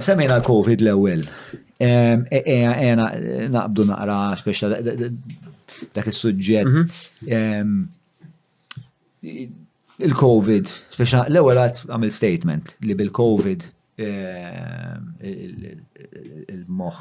Semmejna l-Covid l-ewwel. Ejna naqbdu naqra speċa dak is-suġġett. Mhm. Il-Covid, speċa l-ewwel għad għamil statement li bil-Covid il-moħħ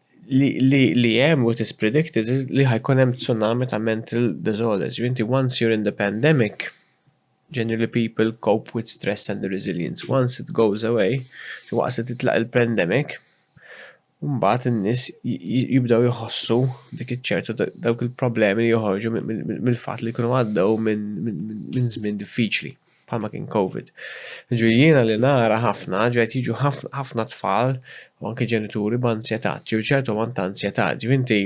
li hemm what is predicted li ħajkun hemm tsunami ta' mental disorders. Inti once you're in the pandemic, generally people cope with stress and resilience. Once it goes away, waqt li titlaq il-pandemic, mbagħad in-nies jibdew iħossu dik iċ-ċertu dawk il-problemi li joħorġu mill-fatt li jkunu għaddew minn żmien diffiċli. bħalma kien Covid. Ġri jiena li nara ħafna, ġri qed jiġu ħafna tfal u anke ġenituri b'ansjetà, ġri ċertu ammont ta' ansjetà, ġri inti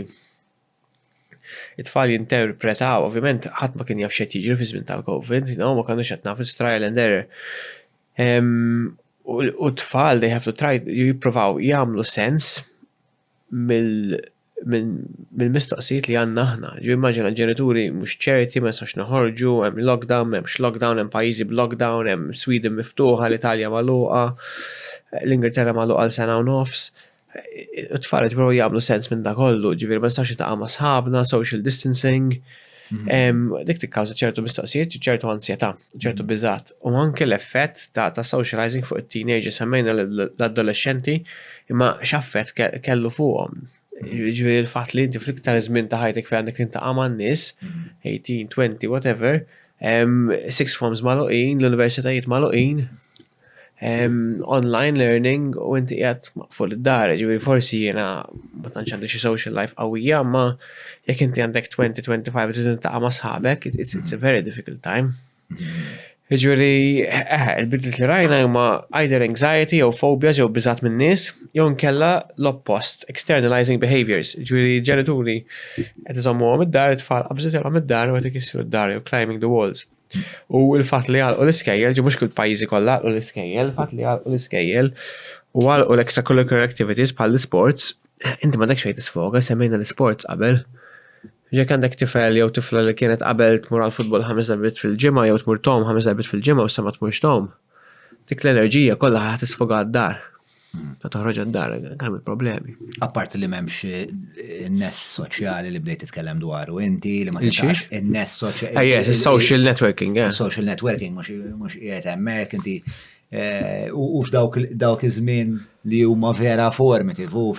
it-tfal jinterpretaw, ovvjament ħadd ma kien jaf x'qed jiġri fi żmien tal-Covid, you know, ma kellux qed naf trial and error. U t-tfal they have to try jippruvaw jagħmlu sens mill mill-mistoqsijiet li għandna aħna. Ġifieri immaġina ġenituri mhux ċerti, ma nistgħux noħorġu, hemm lockdown, m'hemmx lockdown, hemm pajjiżi b'lockdown, hemm Sweden miftuħa, l-Italja magħluqa, l-Ingilterra magħluqa għal sena u nofs. It-tfal qed jippruvaw jagħmlu sens minn dak kollu, ġifieri ma nistgħux niltaqgħu ma' sħabna, social distancing. Dik tikkawża ċertu mistaqsijiet, ċertu ansjetà, ċertu mhm. biżat. U anke l-effett ta' ta' socializing fuq it-teenager semmejna l-adolescenti imma x'affett kellu fuqhom. Ġifieri l-fatt li inti fl-iktar żmien ta' ħajtek fejn għandek intaqa' man-nies, 18, mhm. 20, whatever, six forms maluqin, l-universitajiet maluqin, online learning u inti qiegħed maqful id-dar, ġifieri forsi jiena ma tantx għandi xi social life qawwija, ma jekk inti għandek 20-25 trid intaqa' ma' sħabek, it's a very difficult time. Ġifieri, eh, il-bidliet li rajna huma either anxiety jew phobia jew biżat minn nies, jew nkella l-oppost, externalizing behaviors, ġifieri ġenituri qed iżommuhom id-dar, it-tfal qabżitilhom id-dar u qed ikissru d-dar jew climbing the walls. U l-fatt li għalqu l-iskejjel, ġi mhux kull pajjiżi kollha għalqu l-iskejjel, il-fatt li għalqu l-iskejjel u għalqu l-extracurricular activities bħal l-isports, inti m'għandekx fejn tisfoga, semmejna l-isports qabel. Jekk għandek tifel jew tifla li kienet qabel tmur għal futbol ħames darbiet fil-ġimgħa jew tmur tom ħames darbiet fil-ġimgħa u issa ma tmurx tom, dik l-enerġija kollha ħa tisfoga d-dar. Ta' toħroġ għad-dar, għal il-problemi. Apparti li memx eh, n-ness soċjali li bdejt titkellem dwaru, inti li ma tistax n-ness soċjali. Ah, yes, social networking, yeah. Social networking, mux jgħet emmek, inti eh, u f'dawk iż-żmien li huma vera formative u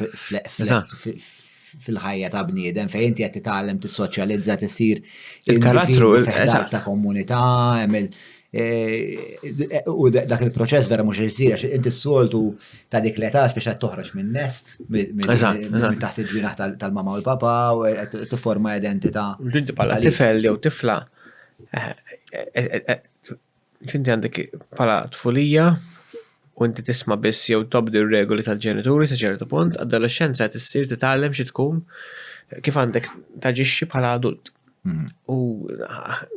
fil-ħajja ta' bniedem fejn inti qed titgħallem tissoċjalizza tisir il-karattru eżatt ta' komunità għamil eh, u dak il-proċess vera mhux isir għax inti s-soltu ta' dik l-età biex qed toħroġ minn nest minn taħt il-ġinaħ tal-mama u l-papa u qed tifforma identità. Inti bħala tifel jew tifla eh, eh, X'inti għandek bħala tfulija u inti tisma' biss jew tobdi r-regoli tal-ġenituri sa ċertu punt, adolexxenza qed issir titgħallem xi tkun kif għandek taġixxi bħala adult. Mhm. U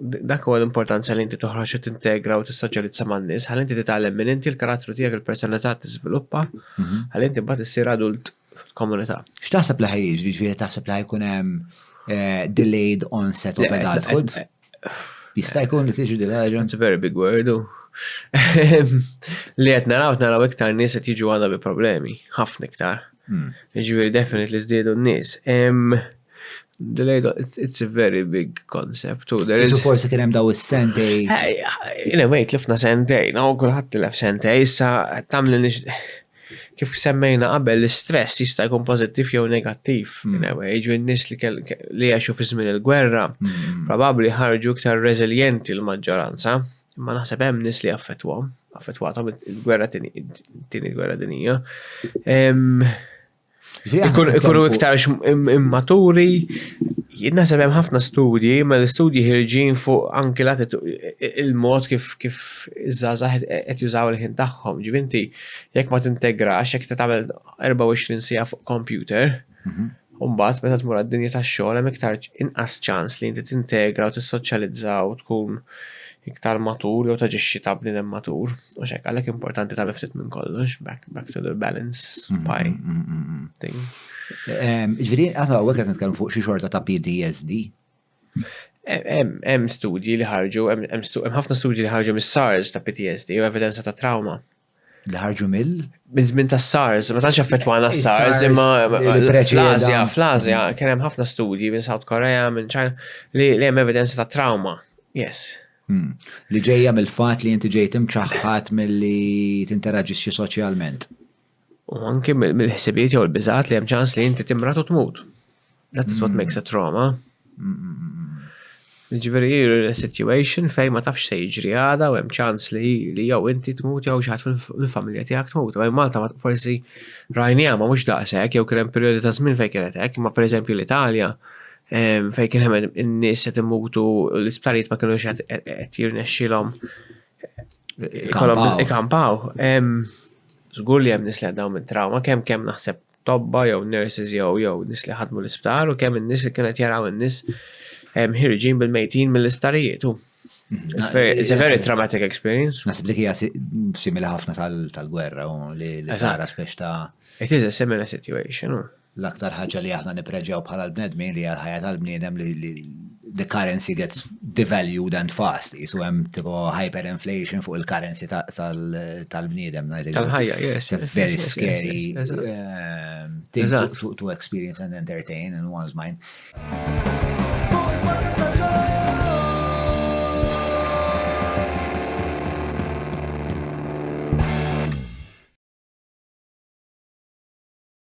dak huwa l-importanza li inti toħroġ u tintegra u tissoċjalizza man-nies, ħalli inti titgħallem minn inti l-karattru tiegħek il-personalità tiżviluppa, mhm. ħalli inti mbagħad issir adult fil-komunità. X'taħseb li ħaj jiġri, ġifieri taħseb li ħajkun hemm eh, delayed onset of adulthood? Jista' jkun li tiġi din ħaġa? It's a very big word. Li qed naraw naraw iktar nies qed jiġu għandha bi problemi, ħafna iktar. Hmm. Ġifieri definitely żdiedu n-nies. Delayed, it's, it's a very big concept. U there is... Forse kien hemm daw is-sentej. Ina wejt lifna sentej, no, kulħadd tilef sentej, issa tagħmel Kif semmejna qabel, l-istress jista' jkun pożittiv jew negattiv. Mm. Jiġu n-nies li jgħixu fi żmien il-gwerra, mm. probabbli ħarġu iktar reżiljenti l-maġġoranza, imma naħseb hemm nies li affettwhom, affettwathom il-gwerra tieni gwerra dinija. Ikunu iktar immaturi, Nasab hemm ħafna studji, ma l-istudji ħirġin fuq anki il-mod kif kif iż-żgħażagħ qed jużaw il-ħin tagħhom. Ġivinti, jekk ma tintegrax, jekk ta' tagħmel 24 sija fuq kompjuter, mhm. u mbagħad meta tmur għad-dinja tax-xogħol hemm iktar inqas ċans li inti tintegra u tissoċjalizza u tkun iktar matur jew taġixxi ta' bniedem matur. U xek, għalek importanti ta' miftit minn kollox, back, back to the balance mm-hmm, pie mm-hmm, mm-hmm. thing. Ġviri, għata għu għet nitkellem fuq xie xorta ta' PTSD. Hemm studji li ħarġu, hemm ħafna studji li ħarġu mis-SARS ta' PTSD u evidenza ta' trauma. Li ħarġu mill? Minn żmien ta' SARS, ma tantx affettwana SARS, imma fl-Azja, fl-Azja kien hemm ħafna studji minn South Korea, minn China li hemm evidenza ta' trauma. Yes. Hmm. Li ġejja mill-fatt li inti ġejt imċaħħat milli tinteraġixxi soċjalment. U anki mill-ħsibijiet jew il-biżat li hemm ċans li inti timrat u tmut. That is what hmm. makes a trauma. Ġifieri you're in a situation fejn ma tafx se jiġri għada u hemm ċans li li jew inti tmut jew xi ħadd mill-familja tiegħek tmut. Ma Malta forsi rajni ma mhux daqshekk jew kien hemm perjodi ta' żmien fejn kienet hekk, imma pereżempju l-Italja fejn kien hemm in-nies qed imutu l-isptarijiet ma kienux qed jirnexxilhom ikampaw. Żgur li hemm nies li għaddew minn trawma, kemm kemm naħseb tobba jew nurses jew jew nies li ħadmu l-isptar u kemm in-nies li kienet jaraw in-nies ħirġin bil-mejtin mill-isptarijiet. It's a very traumatic experience. Nasib li kija simili ħafna tal-gwerra u li tara speċta. It is a similar situation. L-aktar ħaġa li aħna nippreġjaw bħala l-bnedmin li hija l-ħajja tal-bniedem li the currency gets devalued and fast. Jisu hemm tipo hyperinflation fuq il-currency tal-bniedem. Tal-ħajja, yes. It's very scary um, thing to experience and entertain in one's mind.